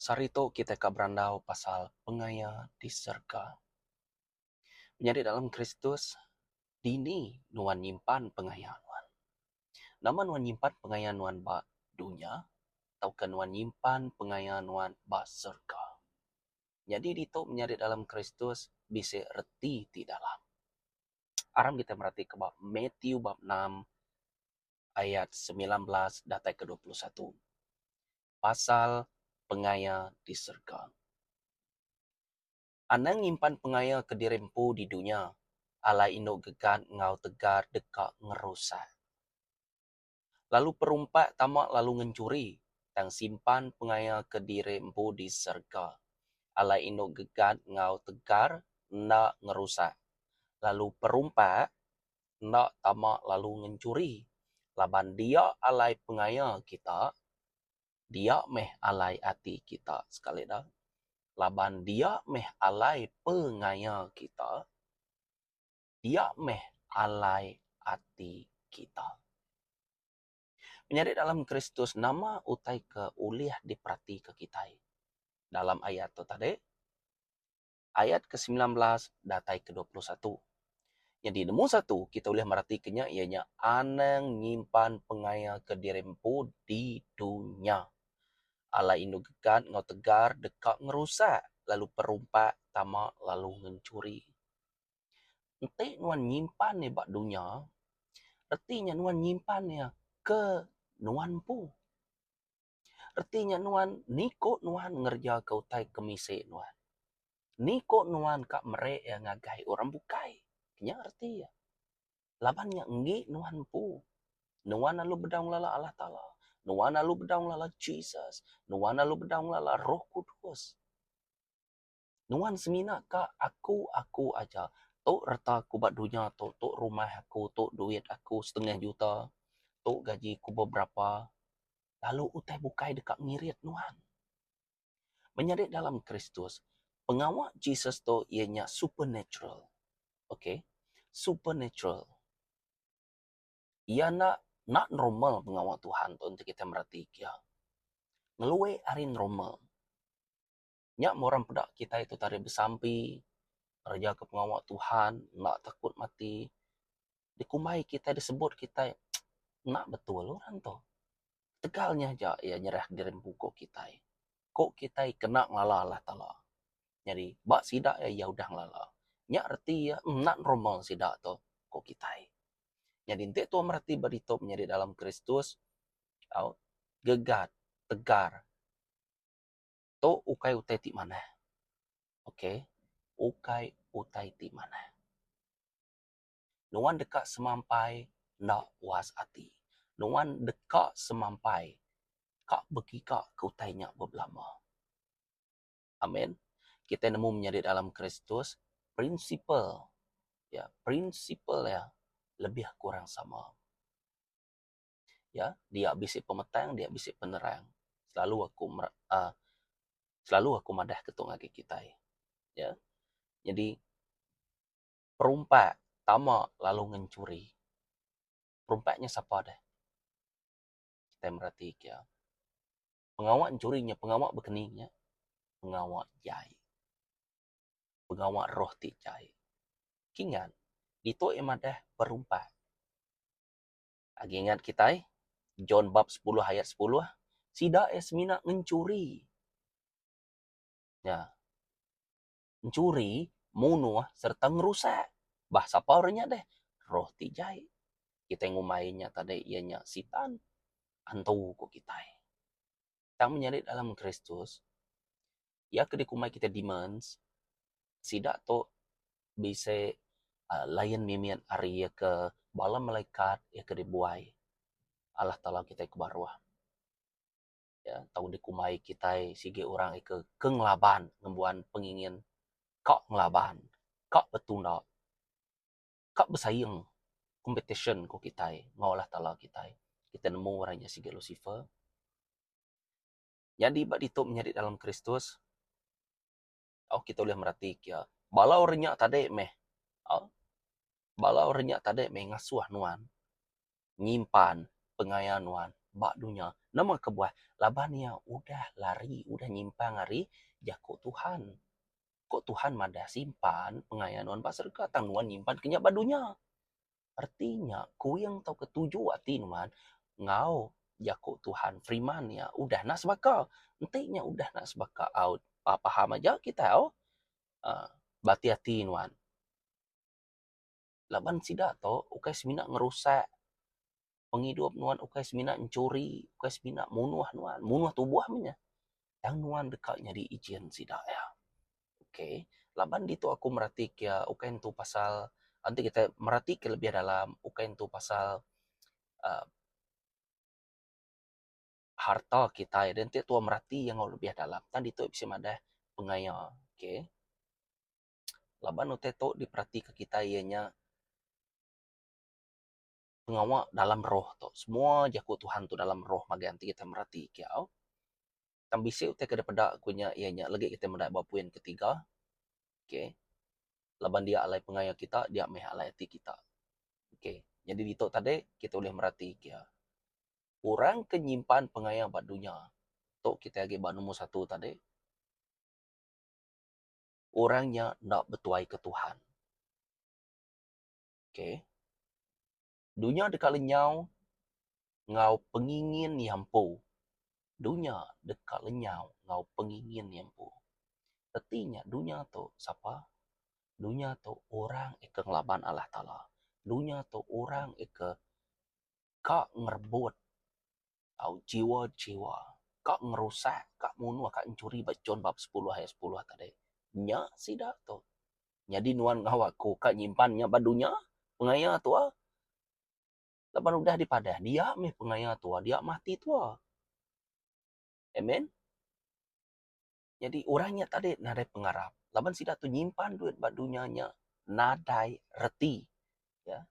Sehari tu kitai ka berandau pasal pengaya di serega. Menyadi dalam Kristus, dini nuan nyimpan pengaya nuan? Nama nuan nyimpan pengaya nuan ba dunya tauka nuan nyimpan pengaya nuan ba serega? Nyadi ditu menyadi dalam Kristus bisi reti ti dalam. aram kita meratika ba Matthew bab enam ayat semilan belas datai ke dua puluh satu pasal pengaya di serega. Anang nyimpan pengaya kediri empu di dunya alai inu gegan enggau tegar deka ngerusak. lalu perumpak tama lalu ngenchuri, tang simpan pengaya ke diri empu di serega. Alai indu gegat enggau tegar enda ngerusak, lalu perumpak enda tama lalu ngenchuri, laban dia alai pengaya kita, dia meh alai ati kita, sekali dah, laban dia meh alai pengaya kita. Dia meh alai ati kita. Menyadi dalam Kristus nama utai ke ulih diperatika kitai? Dalam ayat tu tadi, ayat ke semilan belas datai ke dua puluh satu. Nyadi nemu satu kita ulih meratika nya iya nya anang nyimpan pengaya kediri empu di dunya. Alai indu gegan enggau tegar deka ngerusak lalu perumpak tama lalu ngencuri. Enti nuan nyimpan iya ba dunya, reti nya nuan nyimpan iya ke nuan empu. Reti nya nuan ni ko nuan ngereja ke utai ke misi nuan. Ni ko nuan ka mere iya ngagai orang bukai. Nya reti iya. Laban nya enggi nuan empu, nuan lalu bedau ngelala Allah Taala, nuan lalu bedau ngelala Jesus, nuan lalu bedau ngelala Roh Kudus. Nuan semina ka aku aku aja. Tu reta aku ba dunya tu, tu rumah aku, tu duit aku setengah juta, tu gaji aku beberapa lalu utai bukai deka ngirit nuan. Menyadi dalam Kristus, pengawa Jesus tu iya nya supernatural. Okay. Supernatural. Iya enda enda normal pengawa Tuhan tu enti kita mereti iya. Ngelui ari normal. Nya murang peda kitai tu tari besampi, ngereja ke pengawa Tuhan, enda takut mati. Dikumbai kitai, disebut kitai enda betul orang tu. Ketegal nya aja iya nyerahka diri empu uko kitai. Ko kitai kena ngelala Allah Taala. Nyadi ba sida iya, iya udah ngelala. Nya reti iya enda nerima sida tu, ko kitai. Nyadi enti tuan mereti ba ditu menyadi dalam Kristus, au gegat, tegar. Tu ukai utai ti manah. Ok. Ukai utai ti manah. Nuan deka semampai enda puas ati. Nuan deka semampai ka begiga ke utai nya bebelama. Amen. Kitai nemu menyadi dalam Kristus, prinsipal iya, prinsipal iya lebih kurang sama. ya dia bisi pemetang dia bisi penerang selalu aku mera um selalu aku madah ke tung agi kitai ya nyadi perumba tama lalu ngan churi perumba nya sapa deh tai mereti kia pengawa churi nya pengawa bekeni nya pengawa jai pengawa roh ti jai kingat ditu ia madah perumba Agi ingat kitai, John bab sepuluh ayat sepuluh, sida iya semina ngencuri. Nya. Nchuri, munuh sereta ngerusak. Bah sapa orang nya deh? Roh ti jai. Kitai ngumbai iya nya tadi iya nya sitan, antu ko kitai. Tang menyadi dalam Kristus, iya ke dikumbai kitai demands, sida tu bisi layan mimit ari iya ke bala malaikat iya ke dibuai Allah Taala kitai ke baruh. Iya tau dikumbai kitai sigi orang iya ke ngelaban ngembuan pengingin ka ngelaban, ka betunda. ka besaing competition ku kitai enggau Allah Taala kitai. Kitai nemu orang nya sigi Lusifer. Nyadi ba ditu menyadi dalam Kristus, tau kitai ulih meratika iya. Bala orang nya tadi meh au, bala orang nya tadi meh ngasuh nuan nyimpan pengaya nuan ba dunya. Nama kebuah? Laban iya udah lari, udah nyimpang ari jaku Tuhan. Ko Tuhan madah simpan pengaya nuan ba serega tang nuan nyimpan ke nya ba dunya. Reti nya kuing tauka tuju ati nuan enggau jako Tuhan firiman iya udah enda sebaka. Enti nya udah enda sebaka au ba paham aja kitai au uhh ba ati-ati nuan. laban sida tu ukai semina ngerusak pengidup nuan ukai semina nyuri ukai semina munuh nuan munuh tubuh meh nyeh tang nuan deka nyadi ijin sida iya ok laban ditu aku merati ke iya ukai nentu pasal enti kitai merati ke lebih dalam ukai nentu pasal um harta kitai dah enti tuan merati iya enggau lebih dalam tang ditu bisi madah pengaya ok. laban utai tu diperatika kitai iya nya pengawa dalam roh tu semua jaku Tuhan tu dalam roh ngagai enti kitai mereti kia au. Tang bisi utai ke dep peda ku nya iya nya legi kitai medai ba poin ketiga okay laban dia alai pengaya kita dia meh alai ati kita. Okay nyadi ditu tadi kitai ulih mereti kia orang ke nyimpan pengaya ba dunya tu kitai agi ba nombor satu tadi. orang nya enda betuaika Tuhan. Ok. Dunya deka lenyau enggau pengingin iya empu. Dunya deka lenyau enggau pengingin iya empu. Reti nya dunya tu sapa? Dunya tu orang ke ngelaban Allah Taala. Dunya tu orang ke ka ngerebut tau jiwa jiwa ka ngerusak ka munuh ka nyuri ba jun bab sepuluh ayat sepuluh tadi nya sida tu nyadi nuan enggau aku ka nyimpan nya ba dunya pengaya tua laban udah dipadah dia mih pengaya tua dia meh ati tua amen. Nyadi orang nya tadi nadai pengarap laban sida tu nyimpan duit ba dunya nya nadai reti. Ya.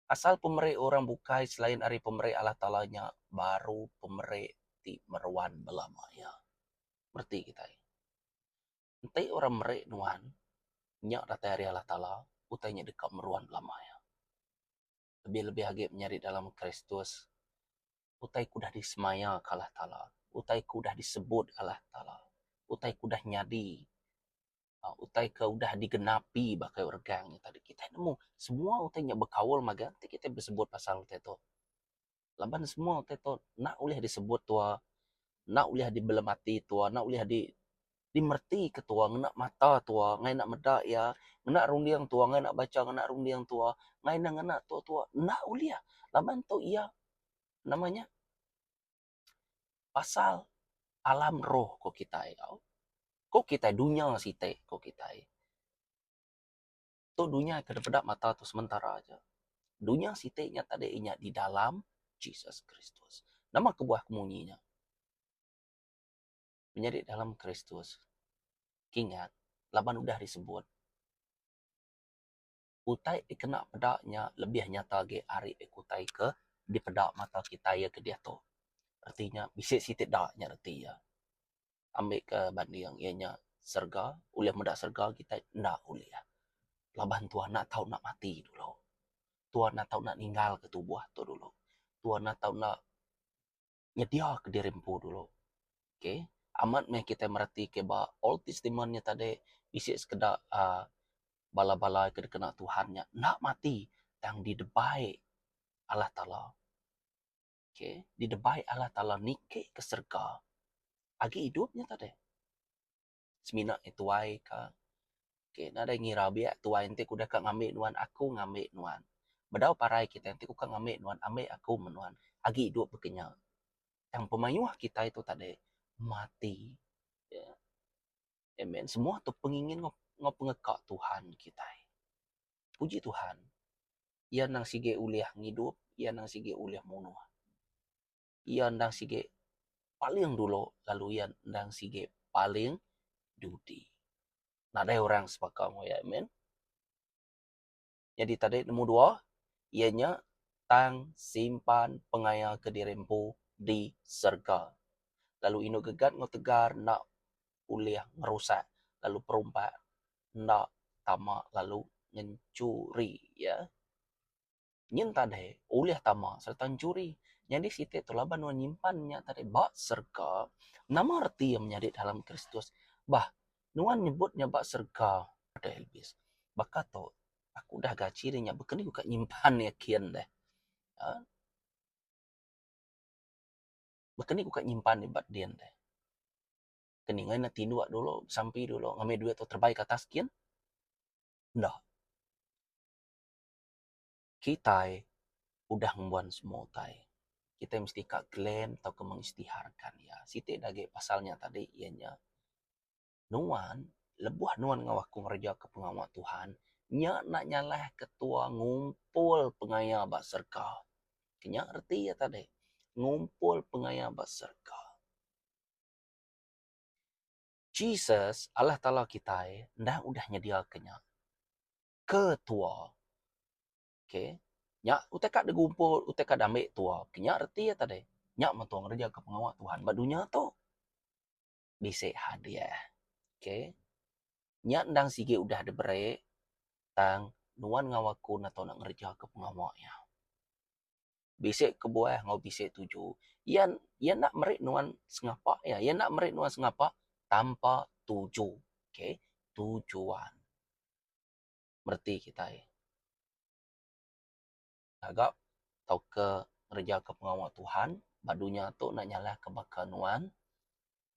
Asal pemeri orang bukai selain ari pemeri Allah Taala nya baru pemeri ti meruan bala maya. Reti kitai. Enti orang meri nuan nya datai ari Allah Taala utai nya deka meruan bala maya. lebih-lebih agi menyadi dalam Kristus, utai ke udah disemaya ke Allah Taala, utai ke udah disebut Allah Taala, utai ke udah nyadi, utai ke udah digenapi ba kayuh regang. Kitai nemu semua utai nya bekaul mega enti kitai besebut pasal utai tu. laban semua utai ito enda ulih disebut tua, enda ulih dibelemati tua, enda ulih dimertika tua ngena mata tua ngai enda meda iya, ngena runding tua ngai enda bacha ngena runding tua, ngai enda ngena tua-tua enda ulih laban ito iya nama nya pasal alam roh ko kitai, ko kitai dunya siti ko kitai. Tu dunya ke dipeda mata tu sementara aja. Dunya siti nya tadi nya di dalam Jesus Kristus. Nama kebuah ke munyi nya? Menyadi dalam Kristus kingat laban udah disebut utai dikena peda nya lebih nyata agi ari ku utai ke dipeda mata kitai iya ke diatu. Reti nya bisi siti da nya reti iya. ambika banding iya nya serega ulih meda serega kitai enda ulih laban Tuhan enda tau enda mati dulu Tuhan enda tau enda ninggal ka tubuh tu dulu Tuhan enda tau enda nyedia ka diri empu dulu okay amat meh kitai mereti ka ba old testament nya tadi bisi sekeda uhh bala bala ke dikena Tuhan nya enda mati tang didebai Allah Taala. Okay. Di debai Allah Taala niki ke serega agi idup nya tadi. Semina ngi tuai ka. Okay. Nadai ngira biak tuai enti ku deka ngambi nuan aku ngambi nuan. Bedau parai kitai enti ku ka ngambi nuan ambi aku meh nuan agi idup baka nya. Tang pemayuh kitai tu tadi mati. Yeah. Amen. Semua tu pengingin enggau pengeka Tuhan kitai. Puji Tuhan. Iya endang sigi ulih ngidup, iya endang sigi ulih munuh. Iya endang sigi paling dulu lalu iya endang sigi paling diudi. Nadai orang sebaka enggau iya. Amen. Nyadi tadi nombor dua iya nya tang simpan pengaya kediri empu di serega. Lalu inu gegat enggau tegar enda ulih ngerusak lalu perumpak enda tama lalu ngenchuri iya nyin tadai ulih tama sereta ngenchuri. Nyadi siti tu laban nuan nyimpan nya tadi ba serega. Nama reti iya menyadi dalam Kristus? Bah nuan nyebut nya ba serega deh Elbis. Baka tu aku udah gaji ri nya baka ni ku ka nyimpan iya kin deh uhh. Baka ni ku ka nyimpan iya ba din deh. ke ninga ne tinduk dulu besampi dulu ngambi duit tu terbai ke atas gin. Enda. Kitai udah ngembuan semua utai. Kitai mesti ka claim tauka mengistiharkan iya. Siti ne agi pasal nya tadi iya nya nuan lebuh nuan enggau aku ngereja ke pengawa Tuhan nya enda nyalah ke tua ngumpul pengaya ba serka. Nya reti iya tadi. Ngumpul pengaya ba serka. Jesus, Allah Taala kitai, enda udah nyediaka nya. Ke tua. Okay. Nya utai ka digumpul, utai ka dambek tua. Nya reti iya tadi. Nya metu ngereja ke pengawa Tuhan ba dunya tu. Bisi hadiah. Okay. Nya endang sigi udah diberi, tang nuan enggau aku ngereja ke pengawa iya. bisi kebuah enggau bisi tuju. Iya iya enda meri nuan sengapa iya. Iya enda meri nuan sengapa tanpa tuju. Okay. Tujuan. Mereti kitai ngaga tauka ngereja ke pengawa Tuhan ba dunya tu enda nyalah ke baka nuan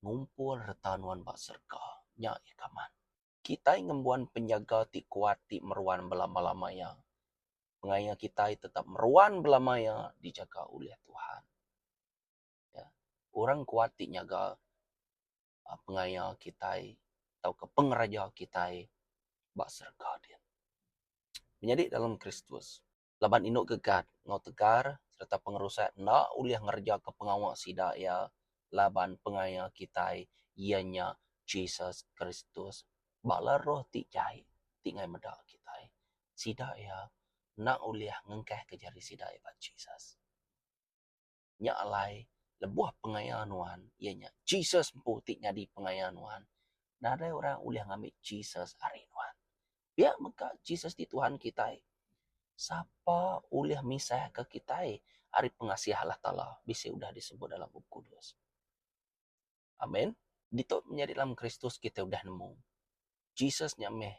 ngumpul reta nuan ba serega. Nya ih kaman. Kitai ngembuan penjaga ti kuat ti meruan belama-lama iya. Pengaya kitai tetap meruan belama iya dijaga ulih Tuhan. Ya. Orang kuat ti nyaga uhh pengaya kitai tauka pengeraja kitai ba serega din. Menyadi dalam Kristus. laban indu gegat enggau tegar sereta pengerusak enda ulih ngerejaka pengawa sida iya laban pengaya kitai iya nya Jesus Kristus. Bala roh ti jai ti ngai meda kitai sida iya enda ulih ngengkahka jari sida iya ba Jesus. nya alai lebuh pengaya nuan iya nya Jesus empu ti nyadi pengaya nuan. Nadai orang ulih ngambi Jesus ari nuan. Pia mega Jesus ti Tuhan kitai. Sapa ulih misahka kitai ari pengasih Allah Taala bisi udah disebut dalam Bup Kudus. Amen. Ditu menyadi dalam Kristus kitai udah nemu. Jesus nya meh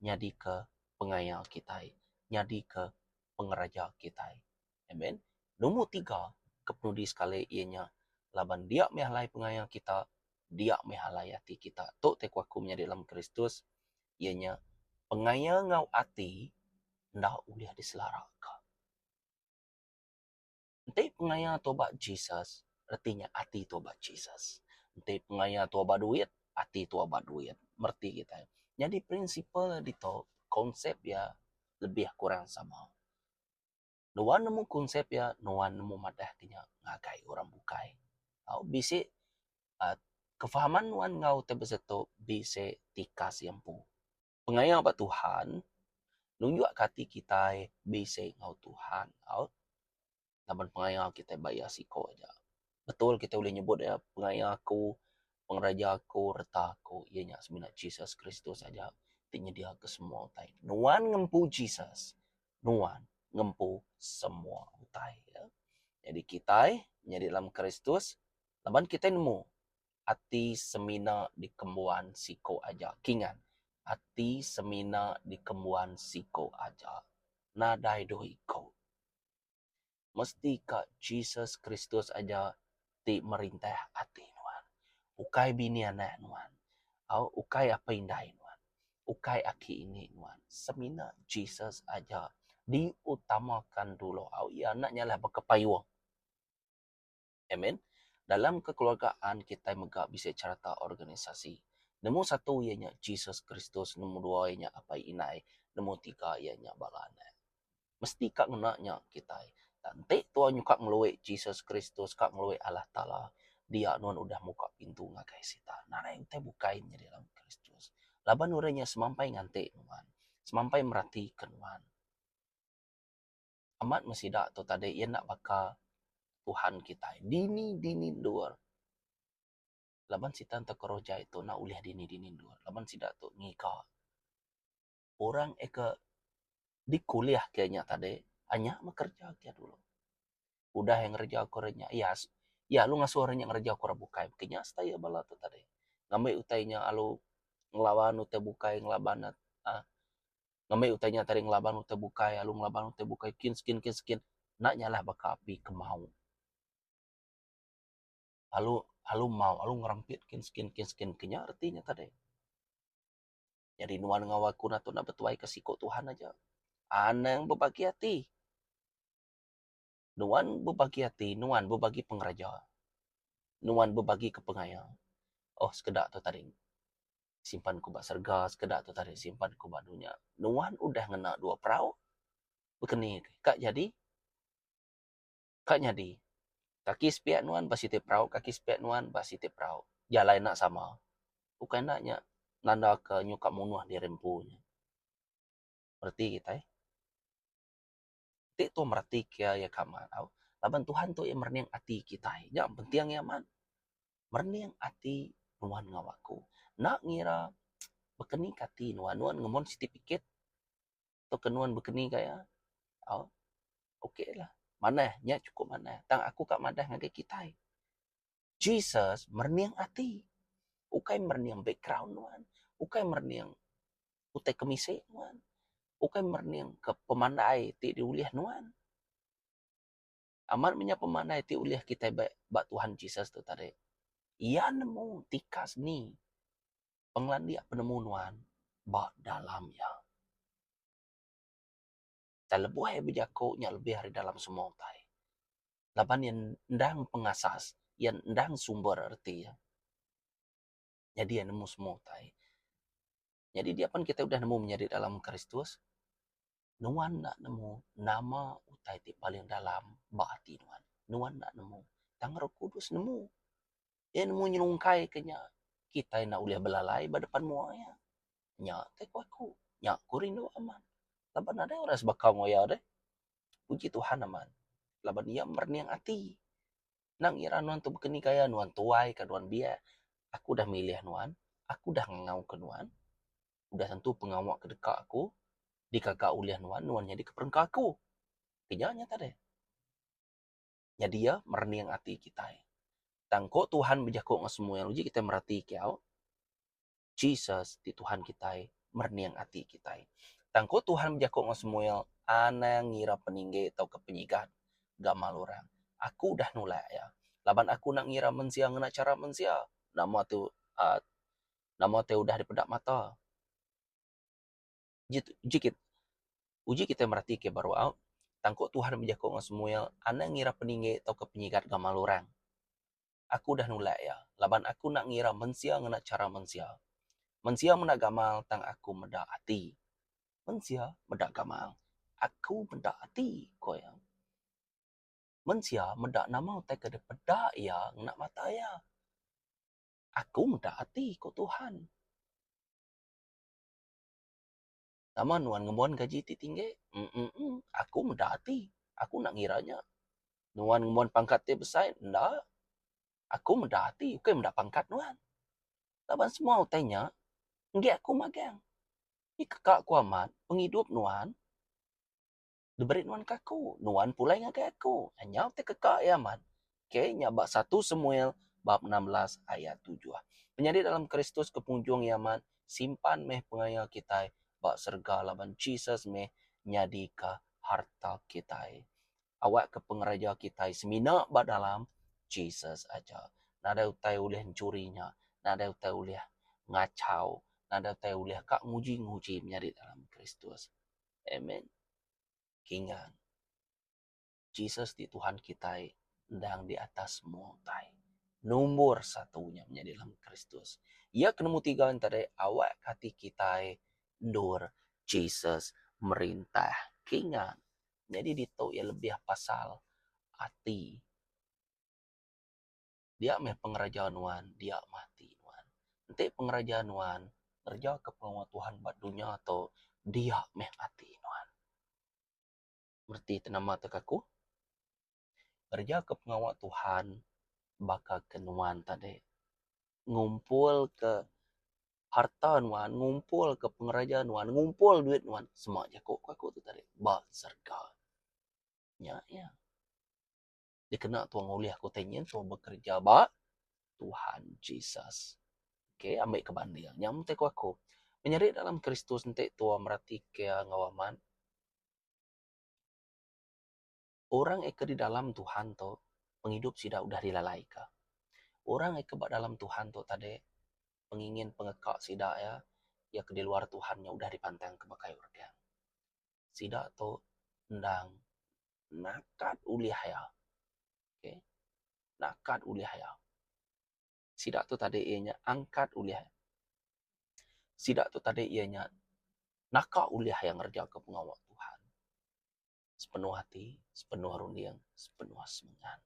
nyadika pengaya kitai, nyadika pengeraja kitai. Amen. Nombor tiga ke penudi sekali iya nya laban dia meh alai pengaya kita, dia meh alai ati kita. Tu ti ku aku menyadi dalam Kristus iya nya pengaya enggau ati enda ulih diselaraka. Enti pengaya tua ba Jesus, reti nya ati tua ba Jesus. Enti pengaya tua ba duit, ati tua ba duit. Mereti kitai. Nyadi prinsipal iya ditu, konsep iya lebih kurang sama. Nuan nemu konsep iya, nuan nemu madahka iya ngagai orang bukai. Tau bisi uhh kefahaman nuan enggau ti besetu bisi tikas iya empu. pengaya ba Tuhan nunjuk ka ati kitai bisi enggau Tuhan tau laban pengaya kitai ba iya siko aja. Betul kitai ulih nyebut iya pengaya aku, pengereja aku, reta aku iya nya semina Jesus Kristus aja ti nyedia ke semua utai. Nuan ngempu Jesus nuan ngempu semua utai. Jadi kitai nyadi dalam Kristus laban kitai nemu Ati semina dikembuan siko aja. Kingat, ati semina dikembuan siko aja. Nadai duh iko. Mesti ka Jesus Kristus aja ti merintah ati nuan. Ukai bini anak nuan. Au ukai apai indai nuan. Ukai aki ini nuan. Semina Jesus aja diutamakan dulu. Au iya enda nyalah bekepayung. Amen. Dalam kekeluargaan kitai mega bisi chereta organisasi. Nemu satu iya nya Jesus Kristus, nemu dua iya nya apai indai, nemu tiga iya nya bala anak. Mesti ka ngena nya kitai. Tang enti tuan nyuka ngelui Jesus Kristus ka ngelui Allah Taala, dia nuan udah muka pintu ngagai Sitan nadai entai bukai nyadi dalam Kristus. Laban udah nya semampai nganti nuan, semampai meratika nuan. Amat meh sida tu tadi iya enda baka Tuhan kitai dini dini endur laban sida tu keroja iya tu enda ulih dini dini endur laban sida tu ngiga orang iya ke dikulih ke nya tadi anyap meh kerja ke dulu udah iya ngereja ke orang nya iya iya lalu ngasuh orang nya ngereja ke orang bukai ke nya stai iya bala tu tadi ngambi utai nya lalu ngelaban utai bukai ngelaban uhh Ngambi utai nya tadi ngelaban utai bukai lalu ngelaban utai bukai kin skin kin skin enda nya lah baka api ke mau. Lalu lalu mau lalu ngerempit kin skin kin skin ke nya reti nya tadi. Jadi nuan enggau aku enda tau nak betuai ke siku Tuhan aja. Anang bebagi ati. Nuan bebagi ati, nuan bebagi pengereja, nuan bebagi ke pengaya. Oh sekeda tu tadi simpan ku ba serega, sekeda tu tadi simpan ku ba dunya. Nuan udah ngena dua perau, bekeni ke ka nyadi, ka nyadi. Kaki sepiak nuan ba siti perau, kaki sepiak nuan ba siti perau. Jalai enda sama. Ukai enda nya nanda ke nyuka munuh diri empu nya. Reti kitai. Ti tu meratika iya ka mak tau laban Tuhan tu iya merening ati kitai. Nya penting iya mak. Merening ati nuan enggau aku. Enda ngira baka ni ka ati nuan. Nuan ngemon siti pikit tauka nuan baka ni ka iya au okaylah. Manah nya chukup manah. Tang aku ka madah ngagai kitai. Jesus merening ati. Ukai merening background nuan. Ukai merening utai kemisi nuan. Ukai merening ke pemandai ti diulih nuan. Amat menya pemandai ti ulih kitai ba ba Tuhan Jesus tu tadi. Iya nemu tikas ni pengelandik penemu nuan ba dalam iya. Utai lebuh iya bejaku nya lebih ari dalam semua utai laban iya endang pengasas iya endang sumber reti iya nyadi iya nemu semua utai. Nyadi diak pan kitai udah nemu menyadi dalam Kristus nuan enda nemu nama utai ti paling dalam ba ati nuan. Nuan enda nemu tang Roh Kudus nemu. Iya nemu nyelungkai ke nya. Kitai enda ulih belalai ba depan mua iya. Nya ke ku aku. Nya ku rindu amat. Laban nadai orang sebaka enggau iya deh. Puji Tuhan amat. Laban iya merening ati. Nang ngira nuan tu baka ni gaya nuan tuai ka nuan biak. Aku udah milih nuan. Aku udah ngangau ke nuan. Udah tentu pengawa ke deka aku. Dikaga ulih nuan, nuan nyadi ke perengka aku. Ke nya nyata deh. nyadi iya merening ati kitai. Tang ko Tuhan bejaku ngan Samuel uji kitai mereti kiyau, Jesus ti Tuhan kitai merening ati kitai. Tang ko Tuhan bejaku ngan Samuel, anang ngira peninggi tauka penyigat gamal orang. Aku udah nulak iya. Laban aku enda ngira mensia ngena chara mensia. Nama tu aaa nama ti udah dipeda mata. Uji kitai meratika ba ruau, tang ko Tuhan enda bejaku ngan Samuel, Anang ngira peninggi tauka penyigat gamal orang. Aku udah nulak iya, laban aku enda ngira mensia ngena chara mensia. Mensia meda gamal, tang aku meda ati. Mensia meda gamal, aku meda ati, ku iya. Mensia meda nama utai ke dipeda iya ngena mata iya. Aku meda ati, ku Tuhan. Nama nuan ngembuan gaji ti tinggi? Emm-emm-emm, aku meda ati. Aku enda ngira nya. Nuan ngembuan pangkat ti besai? Enda. Aku meda ati ukai meda pangkat nuan. Laban semua utai nya enggai aku magang. Nyadi keka aku amat pengidup nuan. diberi nuan ke aku, nuan pulai ngagai aku. Nyau ti keka iya amat. Okay, nya ba satu Samuel bab enam belas ayat tujuh. Penyadi dalam Kristus ke penghujung iya amat, simpan meh pengaya kitai ba serega laban Jesus meh nyadi ke harta kitai. Awak ke pengereja kitai semina ba dalam Jesus aja. Nadai utai ulih nchuri nya. Nadai utai ulih ngachau. Nadai utai ulih ka nguji-nguji menyadi dalam Kristus. Amen. Kingang. Jesus ti Tuhan kitai endang di atas semua utai. Nombor satu nya menyadi dalam Kristus. Iya ke nombor tiga enta deh awak ke ati kitai endur Jesus merintah. Kingang. Nyadi ditu iya lebih pasal ati. Dia meh pengeraja nuan, dia meh ati nuan. Enti pengeraja nuan ngerejaka pengawa Tuhan ba dunya tu, dia meh ati nuan. Reti ti nama tu ke aku? Ngerejaka pengawa Tuhan baka ke nuan tadi. Ngumpulka harta nuan, ngumpulka pengeraja nuan, ngumpul duit nuan, sema jaku ke aku tu tadi, ba serega. Nya iya. dikena tuan ngulih aku utai nyin tuan bekerja ba Tuhan Jesus. Okey, ambil ke banding. Nyam te ku aku. Menyeri dalam Kristus enti tuan merati ke enggau amat. Orang ke di dalam Tuhan tu, pengidup sida udah dilalai ke. Orang ke ba dalam Tuhan tu tadi, pengingin pengeka sida iya, iya ke di luar Tuhan udah dipantang ke baka orang. sida tu endang nakat ulih iya okay nakat ulih iya sida tu tadi iya nya angkat ulih iya sida tu tadi iya nya naka ulih iya ngereja ka pengawa Tuhan sepenuh ati sepenuh runding sepenuh semina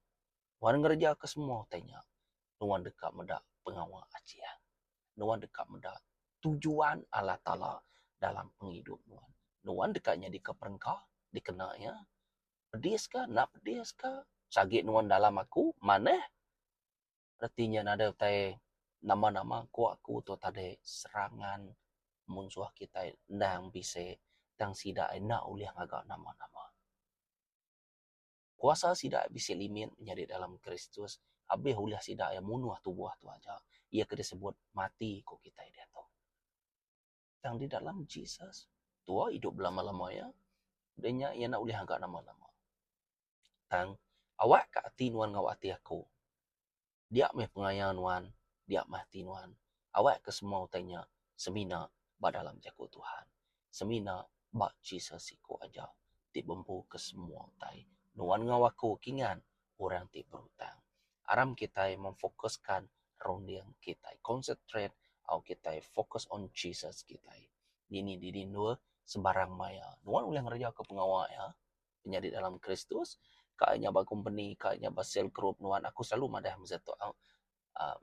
Nuan ngereja ke semua utai nya, nuan deka meda pengawa Achin. Nuan deka meda tujuan Allah Taala dalam pengidup nuan. Nuan deka nyadika perengka dikena Iya. Pedis ka, enda pedis ka, si agi nuan dalam Aku, manah. Reti nya nadai utai nama-nama ku Aku tu tadi serangan munsuh kitai endang bisi tang sida ai enda ulih ngaga nama-nama. Kuasa sida bisi limit menyadi dalam Kristus abih ulih sida iya munuh tubuh tu aja iya ke disebut mati ku kitai diatu. Tang di dalam Jesus, tuah idup belama-lama iya. Udah nya iya enda ulih ngaga nama-nama. Tang awakka ati nuan enggau ati aku. Dia meh pengaya nuan, dia meh ati nuan. Awak ke semua utai nya semina ba dalam Jaku Tuhan. Semina ba Jesus siko aja ti bempu ke semua utai. Nuan enggau aku kingan orang ti berutang. Aram kitai memfokuskan runding kitai. Concentrate au kitai focus on Jesus kitai. Dini dini endur sembarang maya. Nuan ulih ngereja ke pengawa iya. inya di dalam Kristus, ka inya ba kompeni, ka inya ba sel grup nuan aku silalu madah mung seh tu au uhh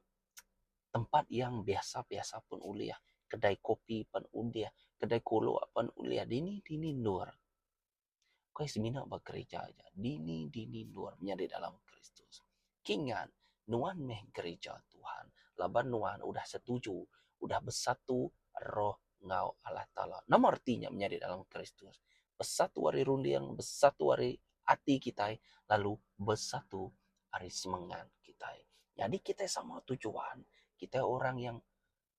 tempat yang biasa-biasa pun ulih, kedai kopi pun ulih, kedai kuluk pun ulih, dini-dini endur. Ku iya semina ba gerija aja, dini-dini endur inya di dalam Kristus. Ki ngan nuan meh gerija Tuhan laban nuan udah setuju, udah besatu roh. enggau Allah Taala. Nama reti nya menyadi dalam Kristus? Besatu ari runding, besatu ari ati kitai lalu besatu ari semengat kitai. Nyadi kitai sama tujuan, kitai orang yang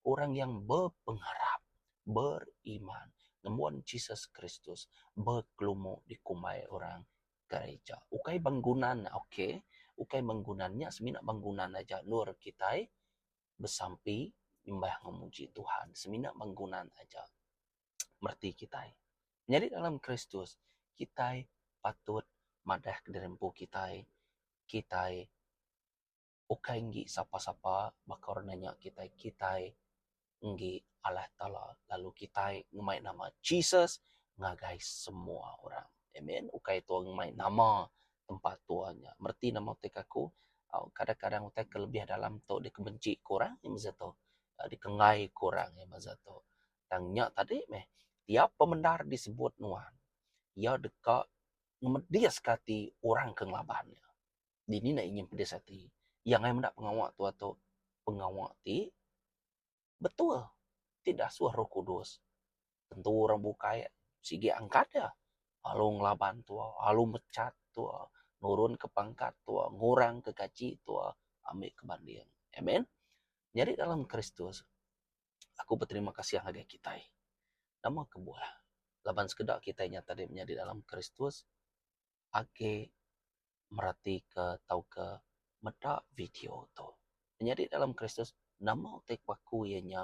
orang yang bepengarap, beriman ngembuan Jesus Kristus bekelumu dikumbai orang gerija. Ukai benggunan, okay, ukai benggunan nya semina benggunan aja endur kitai besampi nyembah enggau muji Tuhan semina penggunan aja mereti kitai. Menyadi dalam Kristus, kitai patut madah kediri empu kitai. Kitai ukai enggi sapa-sapa baka orang nanya kitai. Kitai enggi Allah Taala lalu kitai ngemai nama Jesus ngagai semua orang. Amen. Ukai tu ngemai nama tempa tua nya reti nama utai ke aku kadang kadang utai ke lebih dalam tu deka benci ku orang masa tu deka enggai ku orang masa tu tang nya tadi meh tiap pemendar disebut nuan ia deka ngemedis ka ati orang ke ngelaban ia. Dini enda inya pedis ati ia enggai menda pengawa tua tu pengawa ti betul ti dasuh roh kudus. Tentu orang bukai sigi angkat iya lalu ngelaban tuo lalu mechat tuo nurun ka pangkat tuo ngurang ka gaji tuo ambi ka banding. Amen. Nyadi dalam kristus aku beterima kasih ngagai kitai nama kebuah laban sekeda kitai nyata diri menyadi dalam kristus. agi meratika tauka meda video tu. Penyadi dalam Kristus, nama utai ke baku iya nya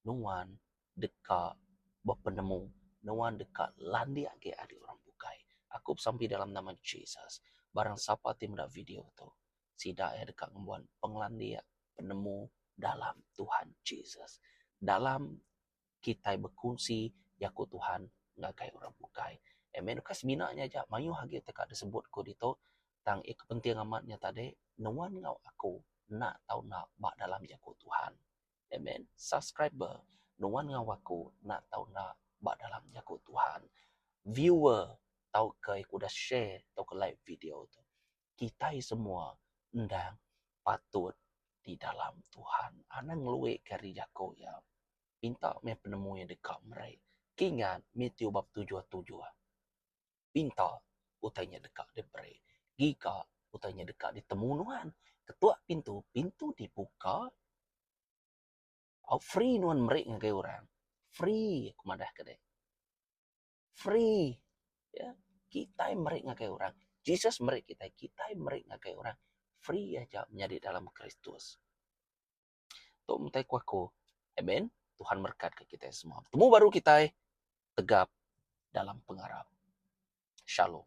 nuan deka bepenemu, nuan deka landik agi ari orang bukai. Aku besampi dalam nama Jesus, barang sapa ti meda video tu, sida iya deka ngembuan pengelandik, penemu dalam Tuhan Jesus. Dalam. kitai bekunsi jaku Tuhan ngagai orang bukai. Amen. Ukai semina nya aja, mayuh agi ti ka disebut ku ditu. Tang iya ke penting amat nya tadi, nuan enggau aku enda tau enda ba dalam jaku Tuhan. Amen. Subscriber, nuan enggau aku enda tau enda ba dalam jaku Tuhan. Viewer, tauka udah share tauka like video tu. kitai semua endang patut di dalam Tuhan. Anang ngelui ke ari jako ia. Pinta meh penemu ia deka meri ke ngat Matthew bab tujuh tujuh. Pinta utai nya deka diberi. Giga utai nya deka ditemu nuan. Ketua pintu, pintu dibuka. Au free nuan meri ngagai orang. Free aku madah ke deh. free ya kitai meri ngagai orang Jesus meri kitai kitai meri ngagai orang free aja menyadi dalam kristus tu mtai ku aku amen Tuhan berkat ke kitai semua betemu baru kitai tegap dalam pengarap shalom